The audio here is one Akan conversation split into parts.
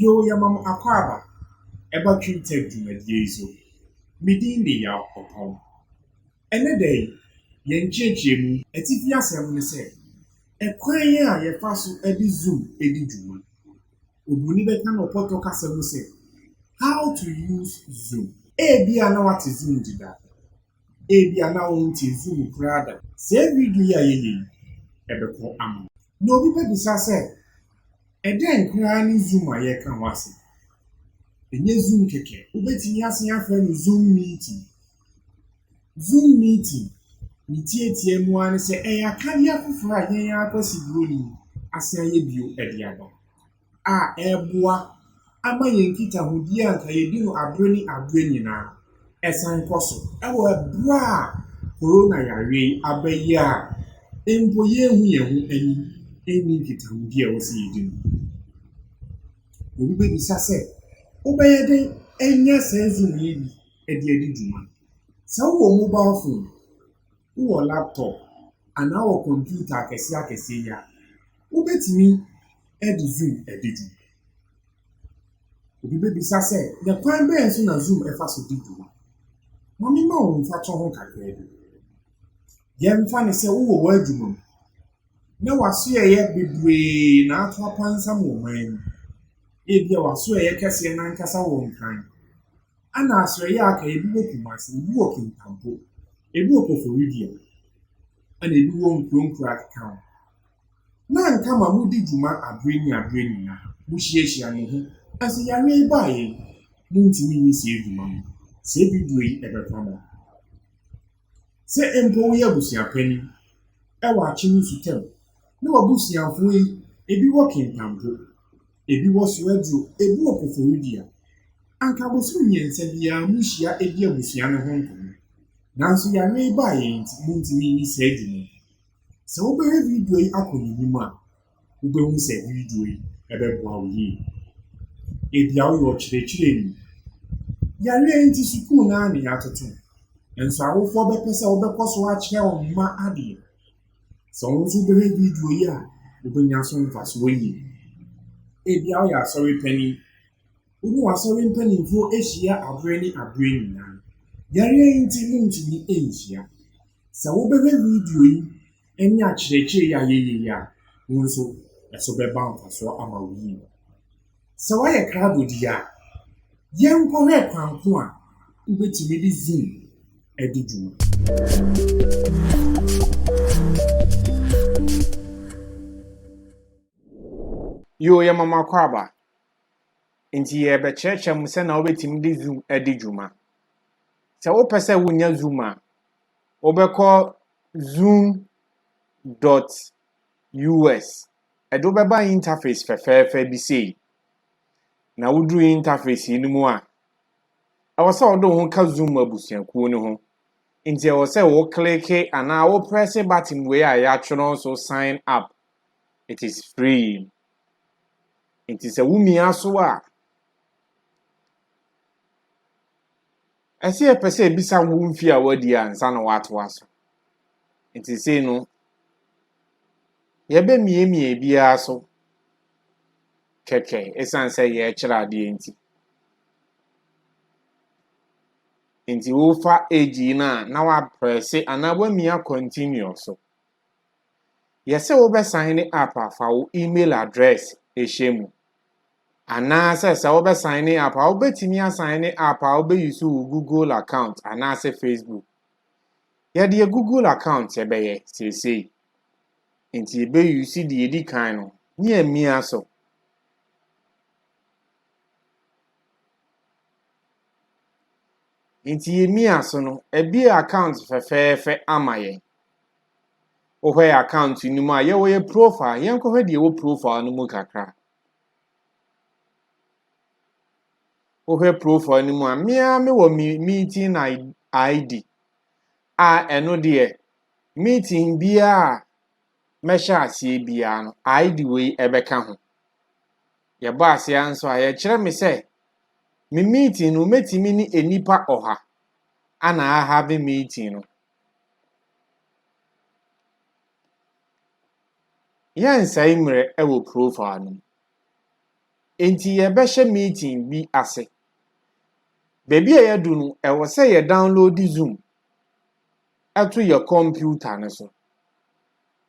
Yoo yɛma mo akwaaba ɛba Twintag dwumadie yi so. Me din de Yaw Ɔpɔn. Ɛnnɛ da yi, yɛn nkyerɛkyerɛmu atifi asɛm ne sɛ, Ɛkwan a yɛfa so de Zoom di dwuma. Oburoni bɛka no ɔpɔtɔ kasa mu sɛ, How to use Zoom. Ebia na woate Zoom deda. Ebia na wonte nsi mu koraa da. Saa video yi a yɛyɛ yi, ɛbɛkɔ ama wo. Na obi bɛbisa sɛ, ɛdɛn koraa ne Zoom a yɛreka ho asɛm? Ɛnyɛ Zoom kɛkɛ. Wobɛtumi asan afrɛ no Zoom meeting. Zoom meeting, ne tiatia mu ara ne sɛ ɛyɛ akadeɛ afoforɔ a yɛn ara Kwasi Buroni asan ayɛ bio de aba. a ɛreboa ama yɛn nkitahodie a anka yɛdi no berɛ ne berɛ nyinaa san kɔ so wɔ berɛ a Corona yareɛ yi aba yi a mpo yɛnhu yɛn ho anim nni nkitahodie a ɛwɔ sɛ yɛdi no. Obi bɛbisa sɛ, wobɛyɛ dɛn anya saa Zoom yi bi de adi dwuma? Sɛ wowɔ mobile phone. wowɔ laptop anaa wowɔ kɔmputa akɛseɛ akɛseɛ yi a, wobɛtumi de zoom adi dwuma. Obi bɛbisa sɛ, na kwan bɛn so na zoom fa so di dwuma? Ma mema wo mfatoho kakraa bi. Yɛmfa no sɛ wowɔ w'adwuma mu na w'asoɛeɛ bebree na ato apansam wɔ man mu. Ebia w'asoɛeɛ kɛseɛ no ankasa wɔ Nkran. Ana asɔeɛ a aka ebi wɔ Kumasi, ebi wɔ Kintampo, ebi wɔ Koforidua, ɛna ebi wɔ nkuro nkuro akeka ho. Na anka ma modi dwuma abere ne abere nyinaa, mohyiahyia mo ho. Nanso yareɛ yi baa yɛn, montumi nyɛ saa adwuma no. Saa bibire yi ɛbɛkɔ ama. Sɛ mpo woyɛ abusua panyin wɔ akyem nsutam na w'abusuafo yi ebi wɔ kentampo, ebi wɔ so aduru, ebi wɔ koforidua, anka bosoom mmiɛnsa biara muhyia di abusua no ho nkɔmmɔ. Nanso yare yi baeɛ nti, muntumi nni saa dwuma yi. Sɛ wobɛhwɛ video yi akɔ n'anim a, wobɛhu sɛ video yi ɛbɛboa wo yie. Ebia woyɛ ɔkyerɛkyerɛni. Yareɛ yi nti sukuu no ara na yɛatoto. Nso awofoɔ bɛpɛ sɛ wobɛkɔ so akyerɛ wɔn mma adeɛ. Sɛ wɔn nso wobɛhwɛ video yi a, wobɛnya so mfasoɔ yie. Ebia woyɛ asɔre panin. Wone w'asɔre mpanimfoɔ ahyia aberɛ ne aberɛ nyinaa. Yareɛ yi nti montumi nhyia. Sɛ wobɛhwɛ video yi Ɛnyɛ akyerɛkyerɛ yi a yɛyɛ yi a wo nso ɛso bɛba mfasoɔ ama wo yie. Sɛ woayɛ krado deɛ a, yɛnkɔhwɛ kwan ko a wobɛtumi de Zoom adi dwuma. Yoo yɛma mo akwaaba. Nti yɛrebɛkyerɛkyerɛ mo sɛnea wobɛtumi de Zoom adi dwuma. Sɛ wopɛ sɛ wonya Zoom a, wobɛkɔ Zoom dot US. Ɛde wo bɛba interface fɛfɛɛfɛ bi sei. Na woduru interface yi no mu a, ɛwɔ sɛ wode wo ho ka Zoom abusuakuo no ho. Nti ɛwɔ sɛ wo kleke anaa wo prɛse button wei a yɛatwerɛ so sign up. It is free. Nti sɛ womia so a, Ɛsɛ yɛpɛ sɛ yɛbisa wo mfie a wadi ansa na woatoa so. Nti sei no, yɛbɛmiamia biara so kɛkɛ ɛsiane sɛ yɛrekyerɛ adeɛ nti. Nti wofa age yi no a na waprɛse anaa woamia continue so. Yɛse wo bɛ saene up a fa wo email address ehyɛ mu. Anaasɛ sɛ wo bɛ saene up a wo bɛtumi asaene up a wo bɛ use wo Google account anaasɛ Facebook. Yɛdeɛ Google account yɛbɛyɛ seesei. Nti yɛbɛ use deɛ edi kan no ne yɛmia so. Nti yɛmia so no ɛbie account fɛfɛɛfɛ ama yɛn. Wohwɛ yɛ account no mu a, yɛwɔ yɛ profile. Yɛnkɔhwɛ deɛ ɛwɔ profile no mu kakra. Wohwɛ profile no mu a, me ara mewɔ me meeting ID a ɛno deɛ meeting biara a mɛhyɛ aseɛ biara no, ID wei ɛbɛka ho. Yɛbɔ aseɛ nso a, yɛkyerɛ me sɛ me meeting no mɛtumi ne nnipa ɔha ana ahave meeting no. Yɛnsɛe mmerɛ wɔ profile no mu. Enti yɛbɛhyɛ meeting bi ase. Baabi a yɛadu no, ɛwɔ sɛ yɛ download Zoom to yɛ kɔmputa no so.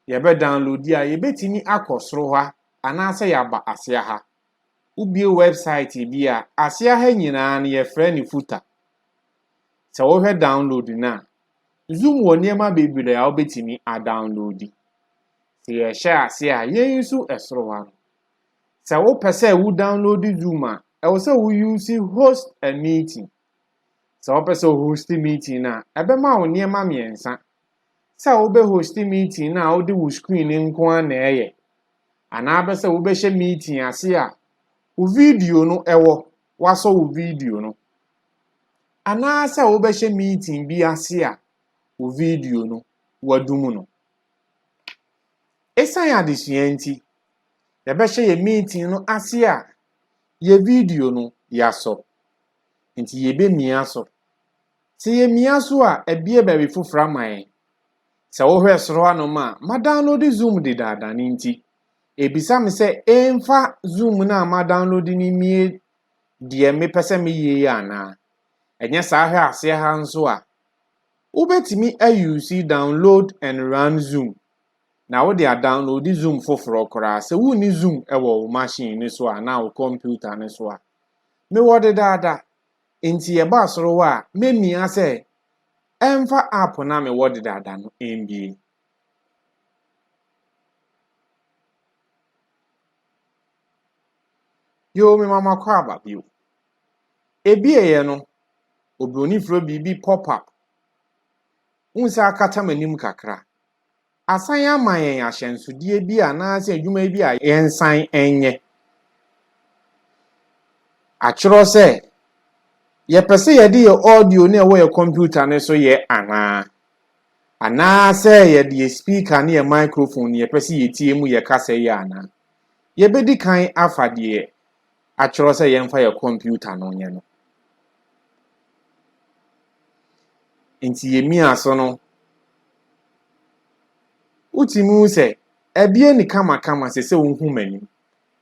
Yɛbɛ download a, yɛbɛtumi akɔ soro ha anaasɛ yɛaba aseɛ ha. Wobue website bi a, aseɛ ha nyinaa no yɛfrɛ no footer. Sɛ wohwɛ download no a, Zoom wɔ nneɛma bebree a wobɛtumi adownloadi. Sɛ yɛhyɛ ase a, yɛn nso ɛsoro ha no, sɛ wopɛ sɛ wo download Zoom a, ɛwɔ sɛ wo use host a meeting. Sɛ wopɛ sɛ wo host meeting no a, ɛbɛma wo nneɛma mmiɛnsa. Sɛ wobɛ host meeting no a wode wo screen nko ara na ɛyɛ, anaa bɛ sɛ wobɛhyɛ meeting ase a wo video no ɛwɔ. wɔasɔ wo video no, anaasɛ wobɛhyɛ meeting bi ase a wo video no wadum no. Esiane adesua nti, yɛbɛhyɛ yɛn meeting no ase a yɛn video no yɛasɔ. Enti yebemia so. Sɛ yemia so a, abue baabi foforo ama yɛn. Sɛ wohwɛ soro hanom a, madownload Zoom dedaada no nti, Ebisa me sɛ emfa Zoom no a madownload no mmie deɛ mepɛ sɛ meyɛ yi anaa? Ɛnyɛ saa hwɛ aseɛ ha nso a, wobɛtumi ayuusi download and run Zoom na wode adownloadi Zoom foforɔ koraa sɛ wonni Zoom wɔ wo machine no so anaa wo kɔmputa no so a. Mewɔ dedaada, enti yɛbɔ asorowa a, mɛmia sɛ ɛmfa app no a mewɔ dedaada no mmie. Yoo me mama kɔ aba bio. Ebieɛ no, oburoni frɛ biribi pop up. Wohu sɛ akata m'anim kakra. Asan ama yɛn ahyɛnsodeɛ bi anaasɛ adwuma bi a yɛnsan nyɛ. Atwerɛ sɛ, yɛpɛ sɛ yɛde yɛn audio no a ɛwɔ yɛn kɔmputa no so yɛ anaa? Anaasɛ yɛde yɛn speaker ne yɛn microphone na yɛpɛ sɛ yɛtie mu yɛ kasa yi anaa? Yɛbɛdi kan afa deɛ atwerɛ sɛ yɛmfa yɛ kɔmputa no nyɛ no. Nti yɛmia so no, wotumi hu sɛ ɛbie ne kamakama sɛ sɛ wohu m'anim,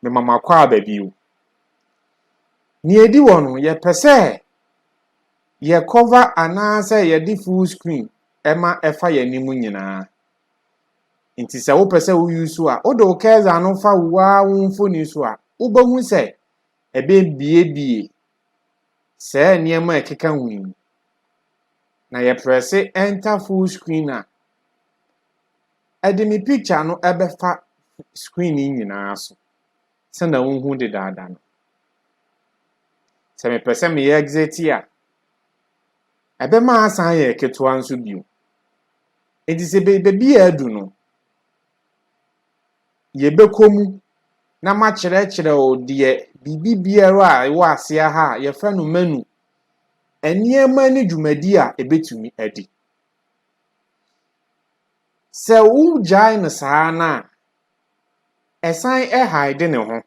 mema makɔ aba bio. Nea ɛdi hɔ no, yɛpɛ sɛ yɛ cover anaasɛ yɛde full screen ma ɛfa yɛn anim nyinaa. Nti sɛ wopɛ sɛ woyi so a, wode wo kɛza no fa wo ara wo mfoni so a, wobɛhu sɛ ɛbɛbiebie saa nneɛma a ɛkeka ho yi. Na yɛprɛse enter full screen a, ɛde me picture no ɛbɛfa screen no nyinaa so. sɛnea wohu dedaada no. Sɛ mepɛ sɛ meyɛ exit a, ɛbɛma asan ayɛ ketewa nso bio. Enti sɛ baabi a adu no, yɛbɛkɔ mu na makyerɛkyerɛ wo deɛ biribi biara a ɛwɔ aseɛ ha a yɛfrɛ no menu, nneɛma ne dwumadi a ɛbɛtumi adi. Sɛ wogyae no saa no a, Ɛsan hide ne ho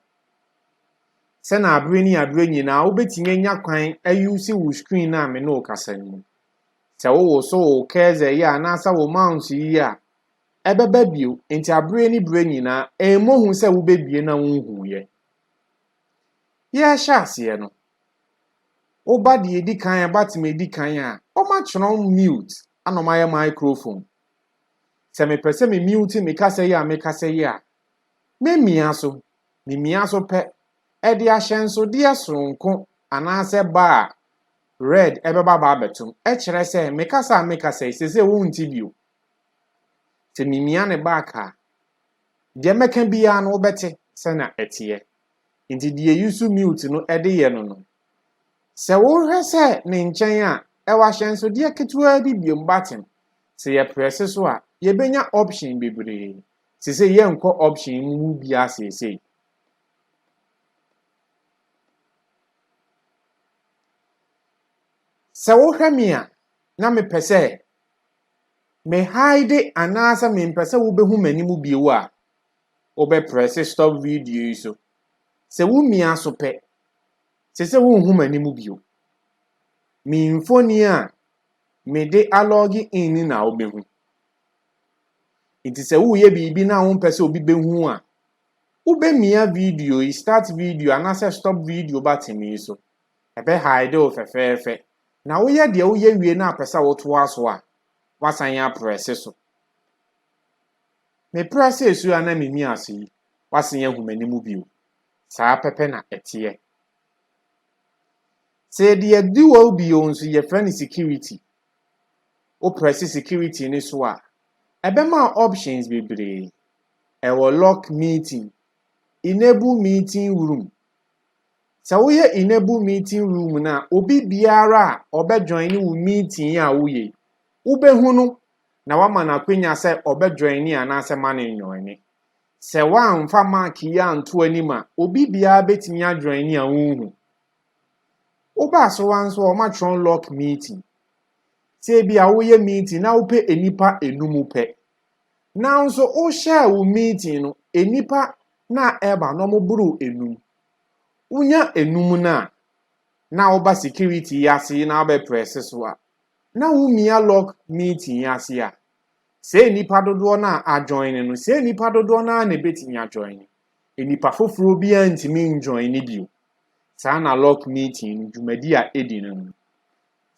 sɛ na abere ne abere nyinaa wobɛtumi anya kwan ayuse wo screen no a me ne wo kasa no mu. Sɛ wowoso wo cursor yi a anaasɛ wo mouse yi a, ɛbɛba bio. Nti abere ne bere nyinaa, ɛmmɔ hu sɛ wobɛbie na wonhuiɛ. Yɛhyɛ aseɛ no, woba deɛ ɛdi kan a, ɛba tema ɛdi kan a, wɔatwerɛ mute ana wɔayɛ microphone. Sɛ mepɛ sɛ me mute me kasa yi a me kasa yi a, me mia so, me mia so pɛ, ɛde ahyɛnsodeɛ soronko anaasɛ bar a red ɛbɛba ba abɛtom, ɛkyerɛ sɛ me kasa a me kasa yi sese wo nti bio. Sɛ me mia ne back a, deɛ mɛka biara no wobɛte sɛna ɛteɛ. Nti deɛ use mute no ɛde yɛ no no, Sɛ wohwɛ sɛ ne nkyɛn a, ɛwɔ ahyɛnsodeɛ ketewaa bi biom button. Sɛ yɛ prɛse so a, yɛbɛnya option bebree. Sesei yɛnkɔ option mu mu biara seesei. Sɛ wohwɛ me a, na mepɛ sɛ me hide anaasɛ mempɛ sɛ wobɛhu m'anim bio a, wobɛprɛse stop video yi so Sɛ wo mia so pɛ, se sɛ wonhu m'anim bio. Me mfoni a mede alɔge in na wobɛhu. Nti sɛ woreyɛ biribi na wompɛ sɛ obi bɛhu a, wobɛmia video yi, start video anaasɛ stop video button yi so. Ɛbɛ hide wo fɛfɛɛfɛ. Na woyɛ deɛ woyɛ wie na apɛ sɛ wotoa so a, woasan aprɛse so. Mepira sɛ asu a na minni ase yi bɛsen ahu m'anim bio. Saa pɛpɛ na ɛteɛ. Sɛ yɛde adiwo bio nso, yɛfrɛ no security. Wopira si security no so a, ɛbɛma options bebree. Ɛwɔ lock meeting, enable meeting room. Sɛ woyɛ enable meeting room no a, obi biara a ɔbɛjoin wo meeting a woyɛ yi, wobɛhu no na wama no akwanya sɛ ɔbɛdwɔini anaasɛ ma no nnwɔini. Sɛ woamfa mark yi anto anim a, obi biara betumi adwɔini a wunhu. Woba asowa nso a, wɔatwerɛ lock meeting. Sɛ ebia woyɛ meeting na wopɛ nnipa enum pɛ, nanso wohyɛɛ wo meeting no, nnipa na ɛba no wɔboro enum. Wonya enum no a, na woba security yi ase na wobɛprɛse so a, na wo mia lock meeting yi ase a, sɛ nnipa dodoɔ no a ajoine no, sɛ nnipa dodoɔ no ara na ɛbɛtumi ajoine, nnipa foforɔ biara ntumi njoine bio, saa na lock meeting no dwumadi a ɛdi no no.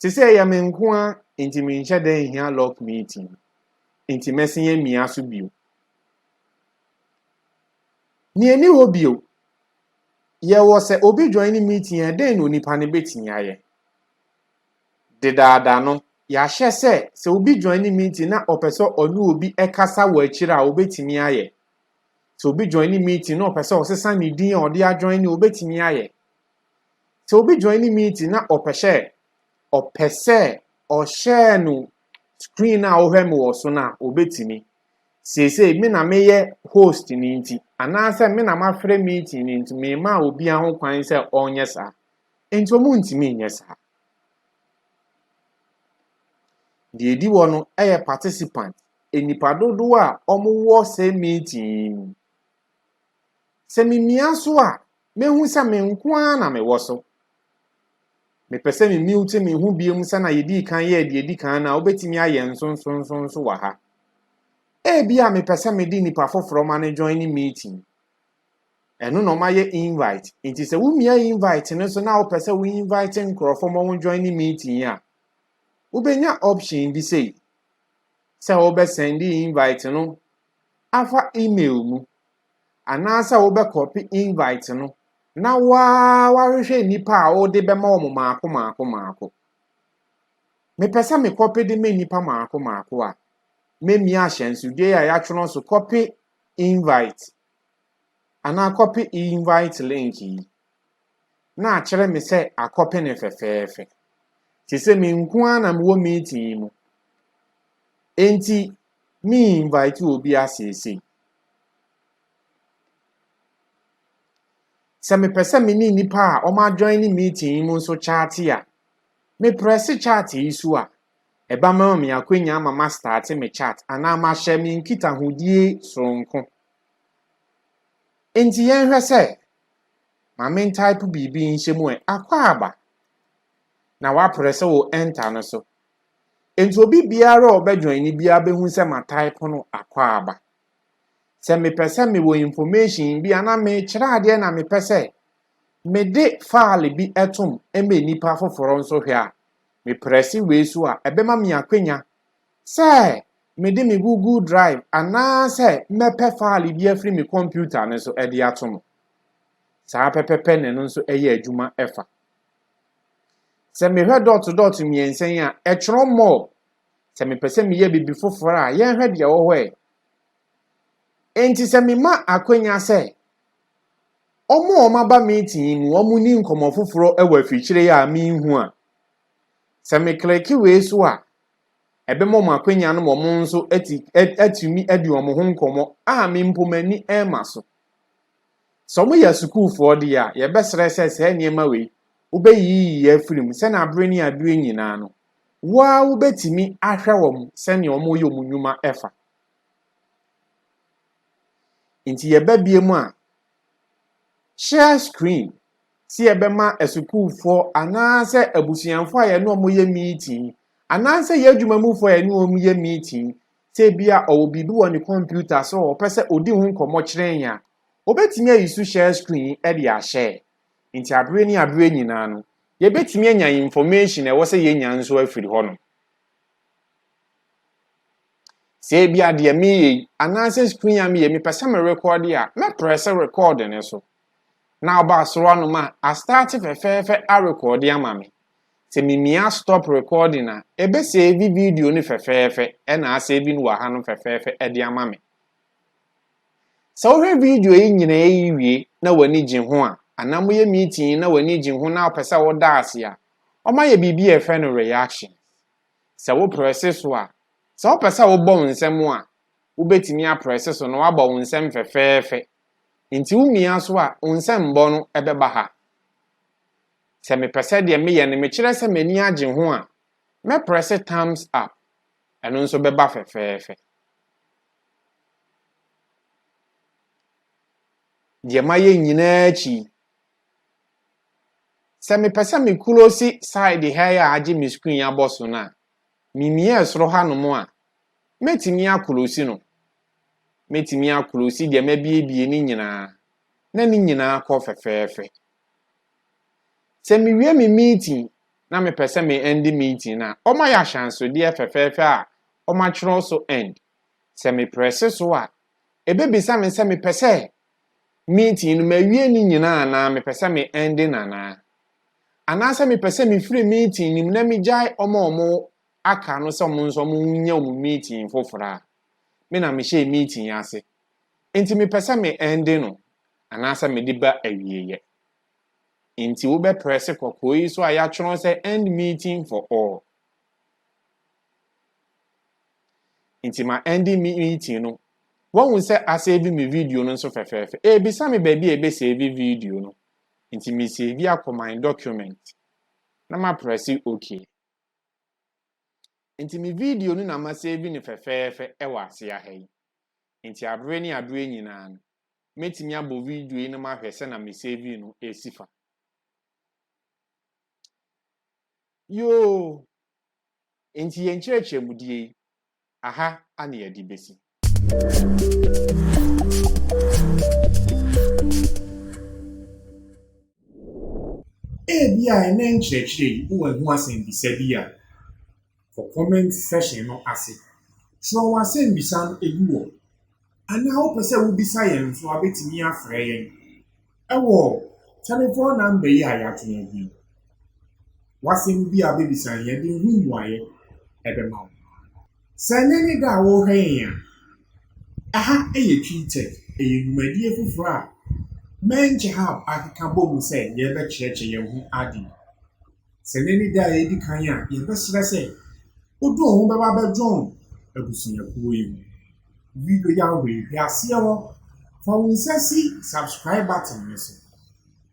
Te sɛ ɛyɛ me nko ara nti menhyɛ da nhia lock meeting no, nti mɛsen amia so bio. Nea ɛni hɔ bio, yɛwɔ sɛ obi joine meeting a, dɛn na onipa no bɛtumi ayɛ? Dedaada no, yɛahyɛ sɛ sɛ obi joine meeting na ɔpɛ sɛ ɔne obi kasa wɔ akyiri a, obetumi ayɛ. Sɛ obi joine meeting na ɔpɛ sɛ ɔsesa ne din a ɔde ajoine, obetumi ayɛ. Sɛ obi joine meeting na ɔpɛ sɛ ɔpɛ sɛ ɔhyɛɛ no screen a ɔhwɛ me wɔ so no a, obetumi. Seesei me na meyɛ host no nti, anaasɛ me na mafrɛ meeting no nti, mema obiara ho kwan sɛ ɔnyɛ saa. Enti wɔntumi nyɛ saa. Deɛ ɛdi hɔ no yɛ participant, nnipa dodoɔ a wɔwɔ saa meeting yi mu. Sɛ memia so a, mɛhu sɛ me nko ara na mewɔ so. Mepɛ sɛ me mute me ho bio sɛdeɛ yɛdi kan yɛɛ deɛ ɛdi kan no a, wobɛtumi ayɛ nsonsonso wɔ ha. Ebia mepɛ sɛ mede nnipa foforɔ ma no join meeting. Ɛno na ɔmayɛ invite. Nti sɛ womia invite no so na wopɛ sɛ wo invite nkurɔfo ma wɔn join ne meeting yi a, wobɛnya option bi sei sɛ wobɛsɛnde invite no afa email mu anaasɛ wobɛkɔpe invite no na waa wahwehwɛ nnipa a wode bɛma wɔn maako maako maako. Mepɛ sɛ mekɔpe de ma nnipa maako maako a, mɛmia ahyɛnsodeɛ a yɛatwerɛ so kɔpe invite anaa kɔpe invite link yi na akyerɛ me sɛ akɔpe ne fɛfɛɛfɛ te sɛ me nko ara na mewɔ meeting yi mu enti me invite obi aseesei sɛ mepɛ sɛ me ne nnipa a wɔn adjoin ne meeting yi mu nso kyaate a meprɛse kyaate yi so a ɛba ma me akwanya ama mastate me chart anaa mahyɛ me nkitahodie soronko. Enti yɛnhwɛ sɛ, ma me ntype biribi nhyɛ mu ɛ, Akwaaba. Na woaprɛ sɛ wo enter no so. Enti obi biara a ɔbɛjoin no biara bɛhu sɛ matype no Akwaaba. Sɛ mepɛ sɛ mewɔ information bi anaa mekyerɛ adeɛ na mepɛ sɛ mede file bi tom ma nnipa foforɔ nso hwɛ a, Me prɛse wei so a, ɛbɛma me akwanya sɛ mede me Google Drive anaasɛ mɛpɛ faale bi afiri me kɔmputa no so de ato mo. Saa pɛpɛpɛ na ɛno nso yɛ adwuma fa. Sɛ mehwɛ dɔɔto dɔɔto mmiɛnsa yi a, ɛtwerɛ more. Sɛ mepɛ sɛ meyɛ biribi foforɔ a, yɛnhwɛ deɛ ɛwɔ hɔ ɛ. Enti sɛ mema akwanya sɛ Wɔn a wɔaba meeting yi mu, wɔnni nkɔmmɔ foforɔ wɔ afikyire yi a menhu a. Sɛ me kleke wei so a, ɛbɛma wɔn akwanya no ma wɔn nso ati atumi adi wɔn ho nkɔmmɔ a me mpo m'ani rema so. Sɛ wɔyɛ sukuufoɔ deɛ a, yɛbɛsrɛ sɛ saa nneɛma wei wobɛyiyiyi afiri mu sɛnea abere ne abere nyinaa no, wo ara wobɛtumi ahwɛ wɔn sɛnea wɔyɛ wɔn nnwuma fa. Enti yɛba bio mu a, share screen sɛ yɛbɛma asukuufoɔ anaasɛ abusuafoɔ a yɛne wɔn yɛ meeting anaasɛ yɛn adwuma mufoɔ a yɛne wɔn yɛ meeting sɛ bi a ɔwɔ biribi wɔ ne kɔmputa so a ɔpɛ sɛ ɔdi ho nkɔmmɔ kyerɛ yɛn a, ɔbɛtumi ayi so share screen de ahyɛ. Nti aberɛ ne aberɛ nyinaa no, yɛbɛtumi anya information a ɛwɔ sɛ yɛnya nso afiri hɔnom. Sɛ ebia deɛ meyɛ yi anaasɛ screen a meyɛ mepɛ sɛ me record a, mɛprɛse record no so. Na ɔba asoro anom a, astarte fɛfɛɛfɛ arekɔɔde ama me. Sɛ mimia stop recording a, ɛbɛsɛɛvi video no fɛfɛɛfɛ ɛna asɛɛvi no wɔ ha no fɛfɛɛfɛ ɛde ama me. Sɛ wohwɛ video yi nyinaa yi wie na w'ani gye ho a, anaa moyɛ meeting na w'ani gye ho na wopɛ sɛ woda ase a, wɔayɛ biribi a yɛfrɛ no reaction. Sɛ woprɛse so a, Sɛ wopɛ sɛ wobɔ wo nsam a, wubetumi aprɛse so na woabɔ wo nsam fɛfɛɛfɛ. Enti wumia so a, wo nsɛmmɔ no bɛba ha. Sɛ mepɛ sɛ deɛ meyɛ no mekyerɛ sɛ m'ani agye ho a, mɛprɛse thumbs up. Ɛno nso bɛba fɛfɛɛfɛ. Deɛ mayɛ nyinaa akyi yi, Sɛ mepɛ sɛ me close side ha yi a agye me screen abɔ so no a, mimiaa soro hanom a, mɛtumi akolosi no. Mɛtumi akolosi deɛ mabiebie no nyinaa na ne nyinaa kɔ fɛfɛɛfɛ. Sɛ mewie me meeting na mepɛ sɛ me end meeting no a, wɔayɛ ahyɛnsodeɛ fɛfɛɛfɛ a wɔatwerɛ so end. Sɛ meprɛse so a, ɛbɛbisa me sɛ mepɛ sɛ meeting no mawie ne nyinaa anaa mepɛ sɛ me ɛnde no anaa? Anaasɛ mepɛ sɛ mefiri meeting no mu na megyae wɔn a wɔn aka no sɛ wɔn nso wɔn nyɛ wɔn meeting foforɔ a? Me na mehyɛɛ meeting yi ase, nti mepɛ sɛ me ɛnde no anaasɛ mede ba awieɛ. Nti wobɛprɛse kɔkɔɔ yi so a yɛatwerɛ sɛ End Meeting for All. Nti ma ɛnde me meeting no. Wahu sɛ asɛɛvi me video no nso fɛfɛɛfɛ. Ɛrebisa me baabi a yɛbɛsɛɛvi video no. Nti mesɛɛvi akɔ my document na maprɛse OK. Nti me video no na masɛɛvi no fɛfɛɛfɛ wɔ aseɛ ha yi. Nti abere ne abere nyinaa no, mɛtumi abɔ video yi na mahwɛ sɛ na mesɛɛvi no ɛresi fa. Yoo! Enti yɛn nkyerɛkyerɛmudie yi, aha na yɛde bɛsi. Ebia ɛnnɛ nkyerɛkyerɛ yi, wowɔ ɛho asɛmmisa bi a. wɔ comment section no ase. Kyerɛw w'asɛmbisa no egu hɔ. Anaa wopɛ sɛ wobisa yɛn nso a, wobɛtumi afrɛ yɛn ɛwɔ telephone number yi a yɛato agu yi. W'asɛm bi a wobɛbisa yɛn de ho mmuaeɛ ɛbɛma wo. Sɛ ɛnyɛ ne da a worehwɛ yɛn a, ɛha yɛ Twi Tech, ɛyɛ dwumadie foforɔ a Menkyehab akeka bɔ mu sɛ yɛbɛkyerɛkyerɛ yɛn ho ade. Sɛ nnɛ ne da a edi kan a, yɛbɛsrɛ sɛ wode wo ho bɛba abɛjoin abusuakuo yi ho. Video yi a wohwehwɛ aseɛ hɔ, fa wo nsa si subscribe button no so,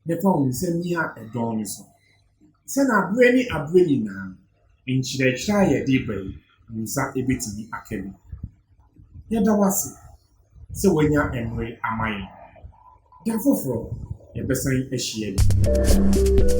na fa wo nsa mia ɛdɔn no so. Sɛ na aberɛ ne aberɛ nyinaa no, nkyerɛkyerɛ a yɛde ba yi, wo nsa bɛtumi aka bi. Yɛda wo ase. sɛ wanya mmere ama yɛn. Da foforo yɛbɛsan ahyia bio.